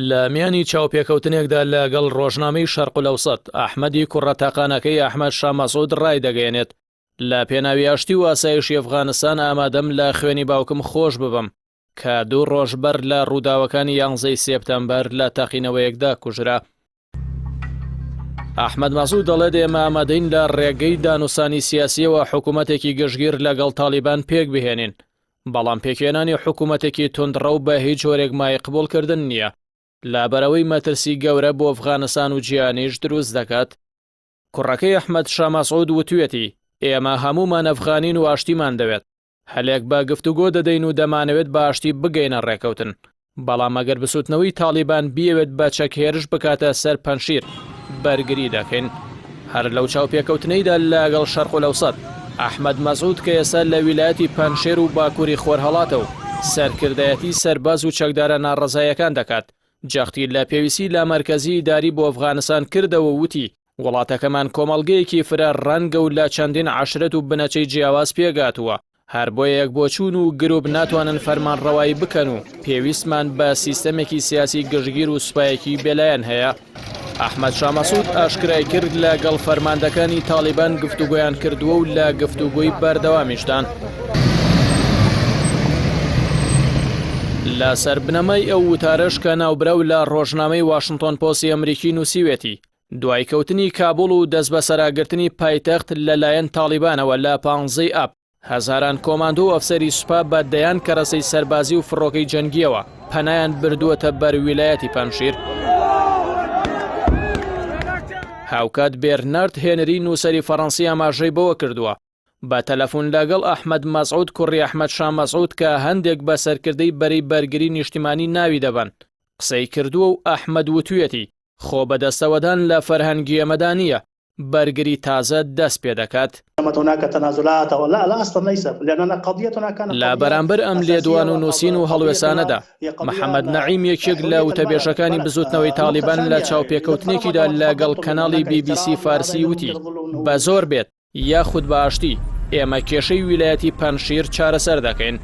لە میانی چاوپێکەوتنێکدا لە گەڵ ڕۆژنامەی شەرقلەوسەت ئەحمەدی کوڕە تاقانەکەی ئەحمەد شامەسود ڕای دەگەێنێت لە پێناوی ئاشتی و ئاسایشی ئەفغانستان ئامادەم لە خوێنی باوکم خۆش ببم کە دوو ڕۆژ بەر لە ڕووداوەکانی یانزەی سێپتەمبەر لە تەقینەوەیەکدا کوژرا ئەحمد مەسود دەڵێت ئێمە ئامادەین لە ڕێگەی دانوسانی سیاسیەوە حکوومەتێکی گشتگیر لەگەڵ تاالبان پێک بهێنین بەڵام پێکێنانی حکوومەتێکی تندڕە و بە هیچ جۆرێک مای قبولکردن نییە لابەرەوەی مەترسی گەورە بۆ ئەفغانستان و جیانیش دروست دەکات کوڕەکەی ئەحمد شامەسعود وتوێتی ئێمە هەمومان ئەفغانین و ئاشتیمان دەوێت هەلێک بە گفتوگۆ دەدەین و دەمانەوێت بە ئاشتی بگەینە ڕێکەوتن، بەڵام ئەگەر بسوتنەوەی تاڵیبان بیەوێت بە چەک هێرش بکاتە سەر پەنشیر، بەرگری دەکەین. هەر لەو چاوپێکەوتنەیدا لەگەڵ شەرقولەوسەت، ئەحمەد مەسعود کە ئێستا لە ویلایەتی پەنجشێر و باکوری خۆرهەڵاتە و سەرکردایەتی سەرباز و چەکدارە ناڕەزایەکان دەکات، جەختی لە پێویستی لامەرکەزی ئیداری بۆ ئەفغانستان کردەوە و وتی، وڵاتەکەمان کۆمەڵگەیەکی فرە ڕەنگە و لە چەندین عەشرەت و بنەچەی جیاواز پێکهاتووە، هەر بۆیە یەکبۆچوون و گروپ ناتوانن فەرمانڕەوایی بکەن و پێویستمان بە سیستەمێکی سیاسی گشتگیر و سوپایەکی بێلایەن هەیە. ئەحمەد شا مەسعود ئاشکرایکرد، لە گەڵ فەرماندەکانی تاڵیبان گفتوگۆیان کردووە و لە گفتوگۆی بەردەوامیشدان. لەسەر بنەمای ئەو وتارەش کە ناوبراو لە ڕۆژنامەی واشنتۆن پۆستی ئەمریکی نووسیوێتی، دوای کەوتنی کابوڵ و دەستبەسەراگرتنی پایتەخت لە لایەن تاڵیبانەوە لە پانزەی ی ئاب، هەزاران کۆماندۆ و ئەفسەری سوپا بە دەیان کەرەسەی سەربازی و فڕۆکەی جەنگییەوە پەنایان بردووەتە بەر ویلایەتی پەنجشیر. هاوکات بێرنارد هێنری نووسەری فەڕەنسی ئاماژەی بەوە کردووە، بە تەلەفون لەگەڵ ئەحمەد مەسعود کوڕی ئەحمەد شا مەسعود کە هەندێک بە سەرکردەی بەرەی بەرگری نیشتیمانی ناوی دەبەن، قسەی کردووە و ئەحمەد وتویەتی، خۆ بەدەستەوەدان لە فەرهەنگی ئێمەدا نییە، بەرگری تازە دەست پێ دەکات. لە بەرامبەر ئەم لێدوان و نووسین و هەڵوێستانەدا، محەمەد نەعیم یەکێک لە وتەبێژەکانی بزووتنەوەی تاڵیبان لە چاوپێکەوتنێکیدا لە گەڵ کەناڵی بی بی سی فارسی وتی، بە زۆر بێت، یاخود بە ئاشتی، ئێمە کێشەی ویلایەتی پەنجشیر چارەسەر دەکەین.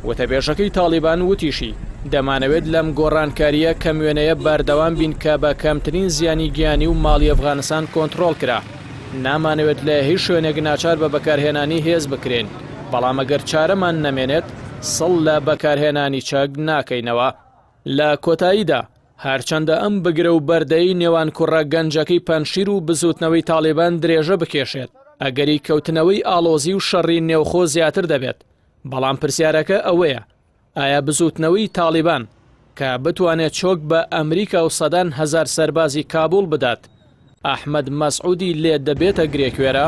وتەبێژەکەی تاڵیبان وتیشی، دەمانەوێت لەم گۆڕانکارییە کەم وێنەیە بەردەوام بین کە بە کەمترین زیانی گیانی و ماڵی ئەفغانستان کۆنتڕۆڵ کرا. نامانەوێت لە هیچ شوێنێک ناچار بە بەکارهێنانی هێز بکرێین، بەڵام ئەگەر چارەمان نەمێنێت سڵ لە بەکارهێنانی چەک ناکەینەوە. لە کۆتاییدا، هەرچەندە ئەم بگرە و بەردەی نێوان کوڕە گەنجەکەی پەنجشیر و بزووتنەوەی تاڵیبان درێژە بکێشێت، ئەگەری کەوتنەوەی ئاڵۆزی و شەڕی نێوخۆ زیاتر دەبێت، بەڵام پرسیارەکە ئەوەیە ئایا بزووتنەوەی تاڵیبان کە بتوانێت چۆک بە ئەمریکا و سەدان هەزار سەربازی کابوڵ بدات، ئەحمەد مەسعودی لێ دەبێتە گرێکوێرە؟